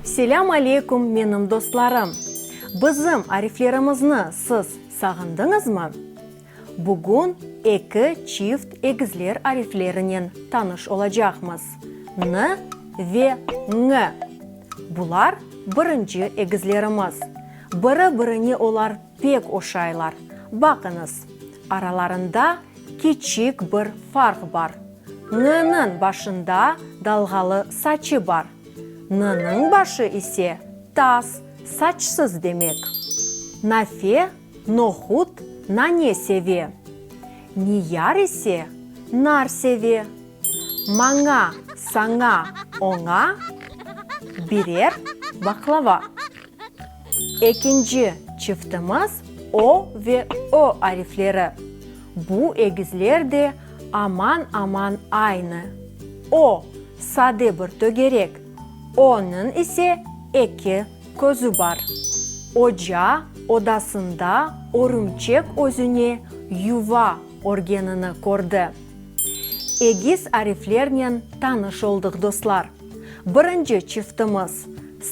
Selâm aleyküm menim dostlarım! Bizim ariflerimizni siz sağındıñızmı? Bugün eki çift egizler ariflerinen tanış olacaqmız, N ve Ñ. Bular birinci egizlerimiz. Biri-birine olar pek oşaylar. Baqıñız, aralarında kiçik bir farq bar. Ñ-niñ başında dalğalı saçı bar. N-niñ başı ise tas, saçsız demek. Nafe, nohut, nane seve. Niyar ise nar seve. Maña, saña, oña, birer, baqlava. Ekinci çiftimiz o ve ö arifleri. Bu egizler de aman-aman aynı. O, sade bir tögerek, öniñ ise eki közü bar. Oca, odasında örümçek özüne yuva örgenini kördi. Egiz ariflernen tanış oldıq, dostlar. Birinci çiftimiz,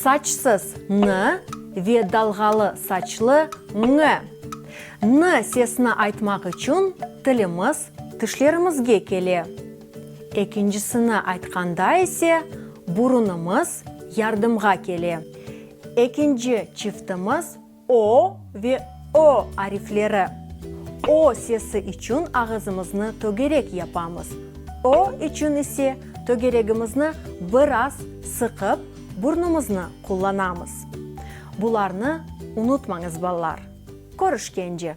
saçsız, nı, ve dalğalı saçlı, ñ. Nı sesini aytmaq içün tilimiz tişlerimizge kele. Ekincisini aytqanda ise, burunımız yardımğa kele. Ekinci çiftimiz, O ve Ö arifleri. O sesi içün ağızımıznı tögerek yapamız, Ö içün ise tögeregimizni biraz sıqıp, burnumıznı qullanamız. Bularnı unutmañız, balalar. Körüşkence.